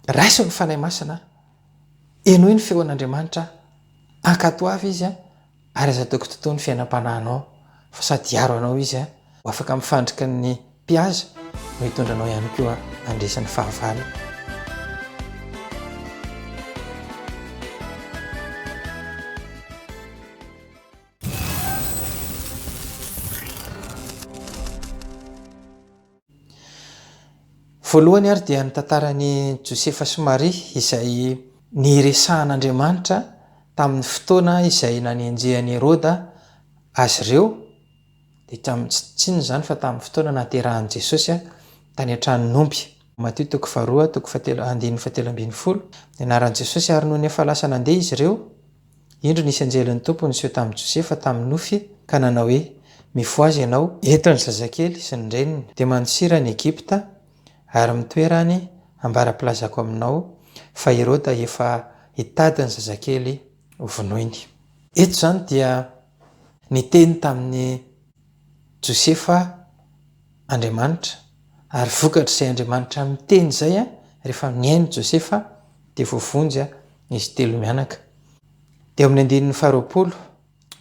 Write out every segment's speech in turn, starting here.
Raiso ny Fanahy Masina, henoy ny feon'Andriamanitra, ankatoavy Izy, ary aza atao kitotoa ny fiainam-panahinao, fa sady hiaro anao Izy, ho afaka amin'ny fandriky ny mpihaza, no hitondra anao ihany koa handresy ny fahavalo. Voalohany ary dia ny tantaran'i Josefa sy Maria izay niresahan'Andriamanitra tamin'ny fotoana izay nanenjehan'i Heroda azy ireo, dia tamin'ny tsy tsinona izany fa tamin'ny fotoana nahaterahan'i Jesosy tany an-tranon'omby. Matio toko faharoa toko fahatelo andininy fahatelo ambin'ny folo, Nianaran'i Jesosy ary nony efa lasa nandeha izy ireo, Indro nisy anjelin'ny Tompo niseho tamin'i Josefa tamin'ny nofy ka nanao hoe, Mifohaza ianao. Eto ny zazakely sy ny reniny dia mandosira an'i Egypta ary mitoera any ambarapilazako aminao fa Heroda efa hitady ny zazakely hovonoiny. Eto izany dia ny teny tamin'ny. Josefa Andriamanitra, ary vokatr'izay Andriamanitra miteny izay, rehefa mihaino Josefa, dia voavonjy izy telo mianaka. Dia eo amin'ny andininy faharoapolo,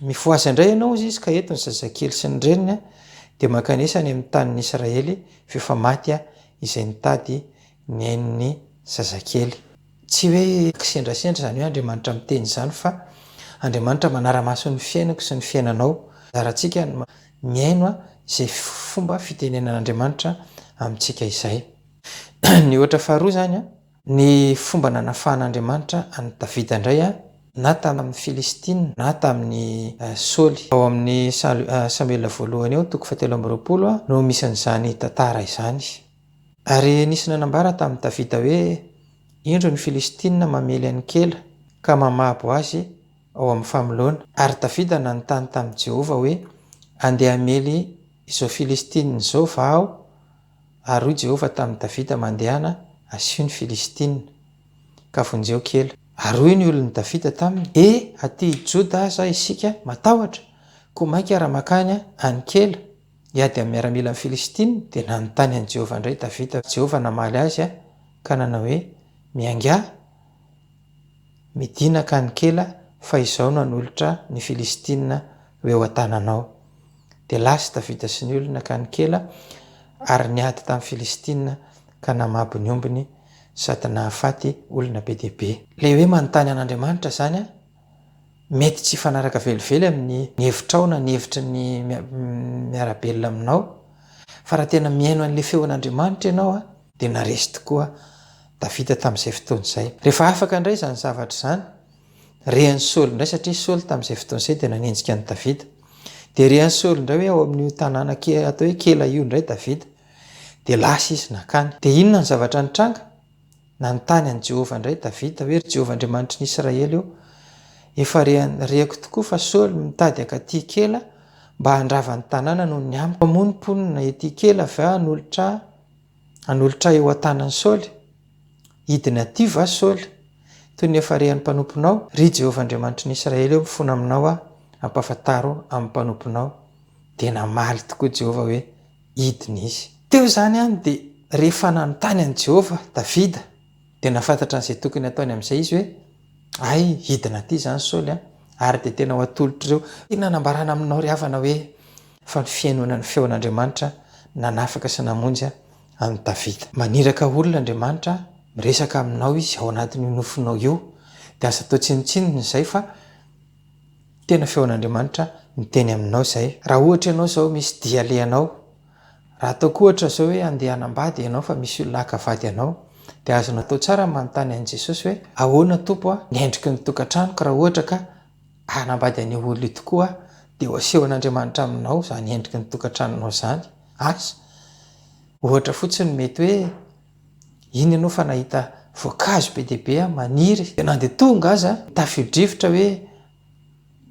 Mifohaza indray ianao, hoy izy, ka eto ny zazakely sy ny reniny dia mankanesa any amin'ny tanin'ny Israely, f'efa maty izay nitady ny ain'ny zazakely. Tsy hoe kisendrasendra izany hoe Andriamanitra miteny izany fa Andriamanitra manara-maso ny fiainako sy ny fiainanao. Anjarantsika ny mihaino izay fomba fitenenan'Andriamanitra amintsika izay. Ny ohatra faharoa izany, ny fomba nanafahan'Andriamanitra an'i Davida indray na tamin'ny Filistina na tamin'i Saoly. Ao amin'ny Samoela voalohany ao, toko fahatelo amby roapolo, no misy an'izany tantara izany. Ary nisy nanambara tamin'i Davida hoe, Indro ny Filistina mamely an'i Kela, ka mamabo azy ao amin'ny famoloana. Ary Davida nanontany tamin'i Jehovah hoe, Andeha hamely izao Filistina izao va aho? Ary hoy Jehovah tamin'i Davida, Mandehana, asio ny Filistina, ka vonjeo Kela. Ary hoy ny olon'i Davida taminy, E, aty Joda aza isika matahotra, koa mainka raha mankany an'i Kela. Hiady amin'ny miaramilan'i Filistina, dia nanontany an'i Jehovah indray i Davida, ary Jehovah namaly azy ka nanao hoe, Miangaha, midinaka any Kela, fa izao no hanolotra ny Filistina ho eo an-tananao. Dia lasa i Davida sy ny olony nankany Kela, ary niady tamin'ny Filistina ka namabo ny ombiny sady nahafaty olona be dia be. Ilay hoe manontany an'Andriamanitra izany an! Mety tsy hifanaraka velively amin'ny ny hevitrao na ny hevitry ny miara-belona aminao, fa raha tena mihaino an'ilay feon'Andriamanitra ianao dia naresy tokoa Davida tamin'izay fotoana izay. Rehefa afaka indray izany zavatra izany, rean'i Saoly indray, satria Saoly tamin'izay fotoana izay dia nanenjika an'i Davida. Dia rean'i Saoly indray hoe ao amin'io tanàna atao hoe Kela io indray Davida. Dia lasa izy nankany. Dia inona ny zavatra nitranga? Nanontany an'i Jehovah indray Davida hoe, Ry Jehovah Andriamanitry ny Israely ô, efa rehako tokoa fa Saoly mitady hankatỳ Kela mba handrava ny tanàna noho ny amiko. Koa moa ny mponina etỳ Kela ve hanolotra ahy, hanolotra ahy eo an-tanan'i Saoly? Hidina atỳ va Saoly, toy ny efa rehan'ny mpanomponao? Ry Jehovah Andriamanitry ny Israely ô, mifona aminao aho, ampahafantaro amin'ny mpanomponao. Dia namaly tokoa Jehovah hoe, hidina izy. Teo izany any dia rehefa nanontany an'i Jehovah Davida, dia nahafantatra an'izay tokony hataony amin'izay izy hoe, Hay, hidina aty izany Saoly an, ary dia tena ho atolotr'ireo. Inona no nambarana aminao ry havana hoe fa ny fihainoana ny feon'Andriamanitra nanafaka sy namonjy an'i Davida? Maniraka olona Andriamanitra, miresaka aminao izy ao anatin'io nofinao io, dia aza atao tsinontsinona izay fa. Tena feon'Andriamanitra miteny aminao izay. Raha ohatra ianao izao misy dia alehanao, raha ataoko ohatra izao hoe handeha hanambady ianao fa misy olona haka vady anao, dia azonao atao tsara ny manontany an'i Jesosy hoe, Ahoana Tompo a, ny endriky ny tokantranoko raha ohatra ka hanambady an'io olona io tokoa aho? Dia ho asehon'Andriamanitra aminao izany endriky ny tokantranonao izany. Asa ohatra fotsiny mety hoe. Iny ianao fa nahita voankazo be dia be aho maniry. Dia na dia tonga aza tafio-drivotra hoe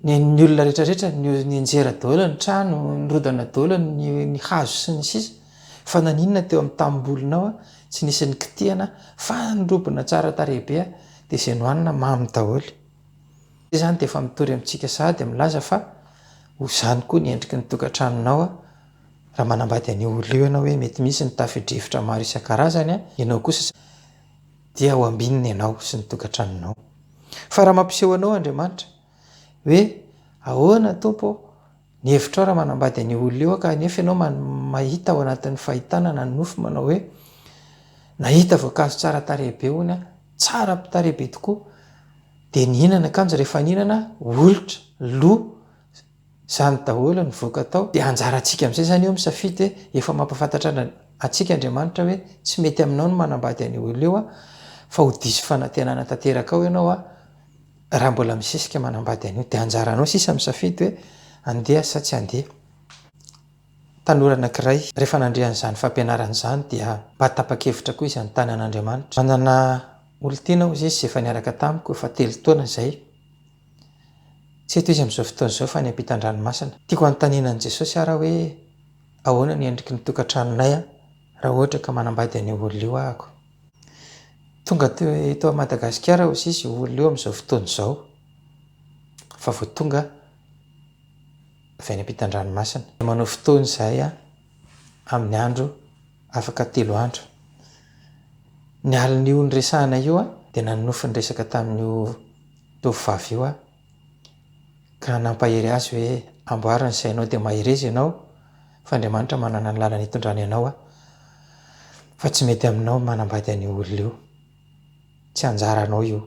ny an'ny olona rehetra rehetra nianjera daholo ny trano, nirodana daholo ny hazo sy ny sisa fa naninona teo amin'ny tanimbolinao tsy nisy nikitihana fa nirobona tsara tarehy be aho dia izay nohanina mamy daholo. Izany dia efa mitory amintsika sahady milaza fa ho izany koa ny endriky ny tokantranonao. Raha manambady an'io olona io ianao hoe mety misy ny tafio-drivotra maro isan-karazany, ianao kosa dia ho ambinina ianao sy ny tokantranonao. Fa raha mampiseho anao Andriamanitra hoe ahoana Tompo ny hevitrao raha manambady an'io olona io aho ka anefa ianao mahita ao anatin'ny fahitana na ny nofo manao hoe nahita voankazo tsara tarehy be hono aho, tsara tarehy be tokoa dia nihinana kanjo rehefa nihinana aho olitra, lo. Izany daholo no voka tao, dia anjarantsika amin'izay izany eo misafidy hoe efa mampahafantatra antsika Andriamanitra hoe tsy mety aminao ny manambady an'io olona io fa ho diso fanantenana tanteraka ao ianao raha mbola misisika manambady an'io, dia anjaranao sisa misafidy hoe andeha sa tsy andeha. Tanora anankiray rehefa nandre an'izany fampianarana izany dia mba tapa-kevitra koa izy hanontany an'Andriamanitra. Manana olon-tiana aho hoy izy izay efa niaraka tamiko efa telo taona izay. Tsy eto izy amin'izao fotoana izao fa any am-pitan-dranomasina. Tiako hanontaniana an'i Jesosy ary aho hoe, Ahoana ny endriky ny tokantranonay raha ohatra ka manambady an'io olona io ahako? Tonga eto Madagasikara ozy izy io olona io amin'izao fotoana izao fa vao tonga avy any am-pitan-dranomasina. Manao fotoana izahay amin'ny andro afaka telo andro. Ny alin'io niresahana io dia nanonofy ny resaka tamin'io Tovovavy io aho, ka nampahery azy hoe, Amboary ny sainao dia mahereza ianao, fa Andriamanitra manana ny lalany hitondrany anao an! Fa tsy mety aminao ny manambady an'io olona io. Tsy anjaranao io.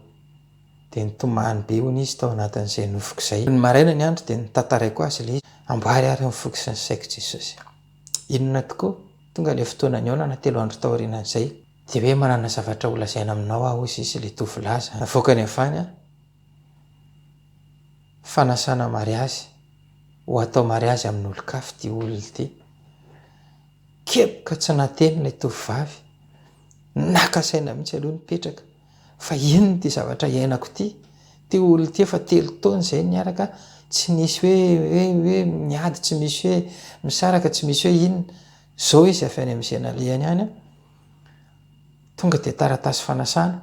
Dia nitomany be hono izy tao anatin'izay nofiko izay. Nony maraina ny andro dia notantaraiko azy ilay izy. Amboary ary ny foko sy ny saiko Jesosy. Inona tokoa? Tonga ilay fotoana nihaonana telo andro taorianan'izay. Dia hoe manana zavatra ho lazaina aminao aho hozy izy, ilay tovolahy izany. Navoakany avy any an, fanasana mariazy ho atao mariazy amin' olon-kafa ity olona ity. Keloka tsy nahateny ilay tovovavy, naka saina mihitsy aloha nipetraka fa inona ity zavatra iainako ity, ity olona ity efa telo taona izay niaraka tsy nisy hoe hoe hoe miady tsy misy hoe misaraka tsy misy hoe inona. Zao izy avy any amin'ny Zenalehany any tonga dia taratasy fanasana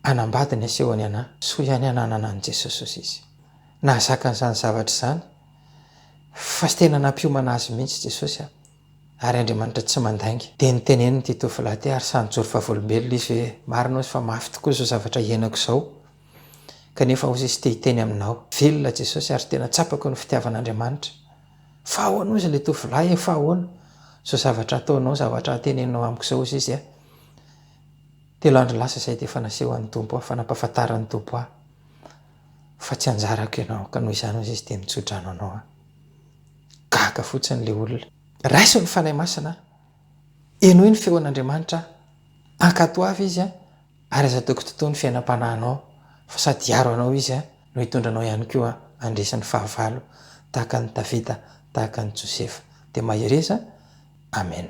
hanambady ny asehony anà. Soa ihany hananana an'i Jesososy izy nahazaka an'izany zavatra izany fa tsy tena nampiomana azy mihitsy Jesosy ary Andriamanitra tsy mandainga. Dia nitenenina ity tovolahy ity ary sahy nijoro vavolombelona izy hoe, Marina hozy fa mafy tokoa izao zavatra iainako izao. Kanefa hozy izy te hiteny aminao. Velona Jesosy ary tena tsapako ny fitiavan'Andriamanitra. Fa ahoana ozy le tovolahy e fa ahoana zao zavatra ataonao zavatra ateneninao amiko zao ozy izy a telo andro lasa zay defa naseho an'ny Tompo aho fa nampafantaran'ny Tompo ahy fa tsy anjarako ianao ka noho izany ozy izy dia mitsodrano anao aho gaga fotsiny le olona raiso ny Fanahy Masina henoy ny feon'Andriamanitra ankatoavy izy a Ary aza atao kitotoa ny fiainam-panahinao, fa sady hiaro anao Izy no hitondra anao ihany koa handresy ny fahavalo, tahaka an'i Davida, tahaka an'i Josefa. Dia mahereza. Amena.